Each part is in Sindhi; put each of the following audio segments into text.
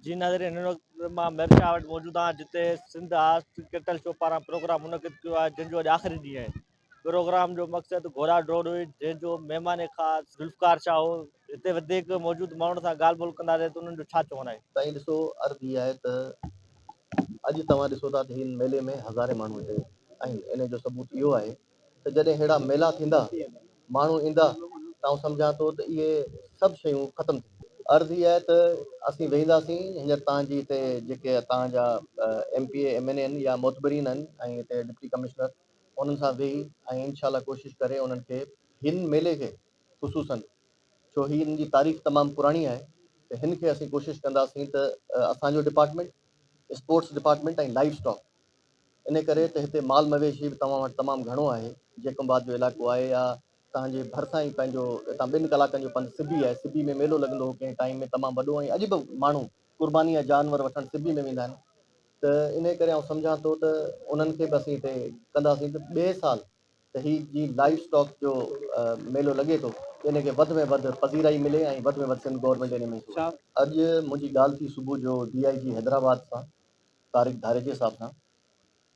جي ناظرين هن وقت مان ميرشاهه وٽ موجود آهيان جتي سنڌ آرٽس ڪلٽرل شو پاران پروگرام منعقد ڪيو آهي جنهن جو اڄ آخري ڏينهن آهي پروگرام جو مقصد گهوڙا ڊوڙ هئي جنهن جو مهمان خاص ذوالفقار شاهه هو هتي وڌيڪ موجود ماڻهن سان ڳالهه ٻولهه ڪنداسين ته انهن جو ڇا چوڻ آهي. سائين ڏسو عرض هي آهي ته اڄ توهان ڏسو ٿا ته هن ميلي ۾ هزارين ماڻهو هتي آهن انهي جو ثبوت اهو آهي ته جڏهن اهڙا ميلا ٿيندا، ماڻهو ايندا ته آئون سمجهان ٿو ته اهي سڀ شيون ختم ٿي وينديون. عرض هيء آهي ته اسين ويهنداسين، هينئر تان جي هتي جيڪي تان جا M P A, M N A آهن يا معتبرين آهن ۽ هتي ڊپٽي ڪمشنر انهن سان ويهي ۽ انشاء الله ڪوشش ڪري انهن کي هن ميلي کي خصوصن ڇو هي ان جي تاريخ تمام پراڻي آهي ته هن کي اسين ڪوشش ڪنداسين ته اسان جو department, sports department ۽ livestock. انهي ڪري ته هتي مال مويشي به توهان وٽ تمام گهڻو آهي، جيڪب آباد جو علائقو آهي يا توهان جي ڀرسان ئي پنهنجو هتان ٻن ڪلاڪن جو پنڌ سبي آهي، سبي ۾ ميلو لڳندو هو ڪنهن ٽائيم ۾ تمام وڏو ۽ اڄ به ماڻهو قرباني يا جانور وٺڻ سبي ۾ ويندا آهن ته انهي ڪري آئون سمجهان ٿو ته انهن کي به اسين هتي ڪنداسين ته ٻئي سال ته هي جي لائيو اسٽاڪ جو ميلو لڳي ٿو ته انهي کي وڌ ۾ وڌ پذيرائي ملي ۽ وڌ ۾ وڌ سنڌ گورنمينٽ انهي ۾ اڄ منهنجي ڳالهه ٿي صبح جو ڊي آء جي حيدرآباد سان. طارق ڌاريجي صاحب سان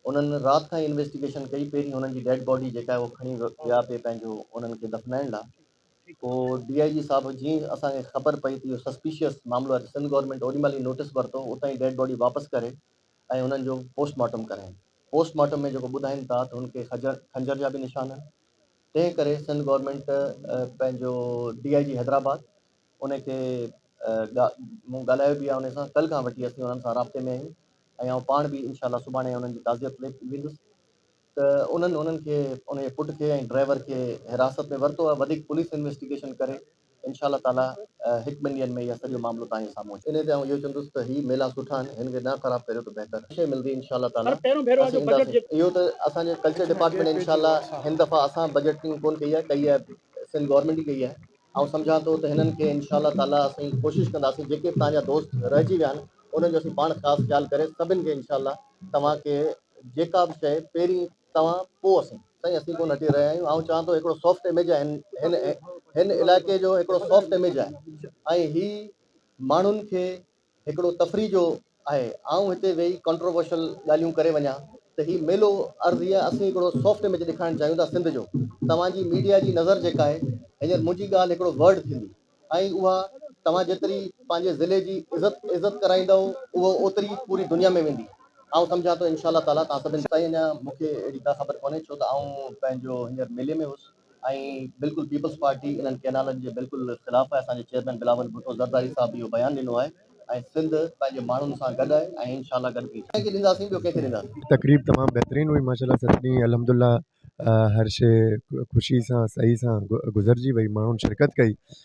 انهن رات کان ئي انويسٽيگيشن ڪئي پهرين هنن جي ڊيڊ باڊي جيڪا آهي اهو کڻي ويا پي پنهنجو انهن کي دفنائڻ لا پو ڊي آء جي صاحب جي اسان کي خبر پئي ته اهو سسپيشيس معاملو آهي ته سنڌ گورنمينٽ اوڏي مهل ئي نوٽس ورتو اتان ئي ڊيڊ باڊي واپس ڪري ۽ انهن جو پوسٽ مارٽم ڪراين پوسٽ مارٽم ۾ جيڪو ٻڌائين ٿا ته هن کي خنجر جا به نشان آهن تنهن ڪري سنڌ گورنمينٽ پنهنجو ڊي آء جي حيدرآباد ان کي مون ڳالهايو به آهي انهن سان ڪلهه کان وٺي اسين انهن سان رابطي ۾ آهيون ۽ آئون پاڻ به انشاء الله سڀاڻي انهن جي تعزيت ۾ ويندس ته انهن انهن کي ان جي پٽ کي ۽ ڊرائيور کي حراست ۾ ورتو آهي وڌيڪ پوليس انويسٽيگيشن ڪري انشاء الله تعالي هڪ ٻن ڏينهن ۾ اهي سڄو معاملو توهان جي سامهون اچي انهي تي آئون اهو چوندس ته هي ميلا سٺا آهن هن کي نه خراب ڪريو ته بهتر شيء ملدي انشاء الله تعالي اسين اينداسين اهو ته اسان جي ڪلچر ڊپارٽمينٽ انشاء الله هن دفعا اسان بجيٽنگ ڪون ڪئي آهي ڪئي آهي سنڌ گورنمينٽ ئي ڪئي آهي آئون سمجهان ٿو ته هنن کي انشاء الله تعاليٰ اسين ڪوشش ڪنداسين جيڪي به توهان جا دوست رهجي ويا آهن انهن جو اسين پاڻ خاص خيال ڪري سڀن کي انشاء الله توهان کي جيڪا به شيء پهرين توهان پوء اسين. سائين اسين ڪونه هٽي رهيا آهيون آئون چوان ٿو هڪڙو سافٽ اميج آهي هن هن هن علائقي جو هڪڙو سافٽ اميج آهي ۽ هي ماڻهن کي هڪڙو تفريح جو آهي آئون هتي ويهي ڪنٽروورشل ڳالهيون ڪري وڃان ته هي ميلو عرض هي اسين هڪڙو سافٽ اميج ڏيکارڻ چاهيون ٿا سنڌ جو توهان جي ميڊيا جي نظر جيڪا آهي هينئر منهنجي ڳالهه هڪڙو ورڊ ٿيندي ۽ اها توهان جيتري پنهنجي ضلعي جي عزت عزت ڪرائيندؤ اهو اوتري پوري دنيا ۾ ويندي آئون سمجهان ٿو انشاء الله تعالي توهان سڀن سائين اڃا مونکي اهڙي ڪا خبر ڪونهي ڇو ته آئون پنهنجو هينئر ميلي ۾ هوس. ۽ بلڪل پيپلز پارٽي انهن ڪئنالن جي بلڪل خلاف آهي، اسان جي چيئرمين بلاول ڀٽو زرداري صاحب به اهو بيان ڏنو آهي ۽ سنڌ پنهنجي ماڻهن سان گڏ آهي ۽ ان شاء الله گڏ به ڪنهن کي ڏينداسين ٻيو ڪنهن کي ڏينداسين. تقريب تمام بهترين هئي ماشاء الله سڀني الحمد الله هر شي خوشي سان سهي سان گذرجي وئي ماڻهن شرڪت ڪئي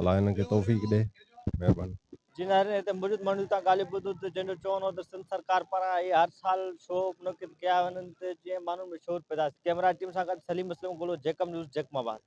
الله انهن کي توفيق ڏي مهرباني. جن هر هتي موجود ماڻهن جون تان ڳالهيون ٻڌون ته جن جو چون هو ته سنڌ سرڪار پاران اهي هر سال شو منعقد ڪيا وڃن ته جيئن ماڻهن ۾ شعور پيدا ٿئي. ڪيمرا ٽيم سان گڏ سليم اسلم گولو جيڪب نيوز جيڪب آباد.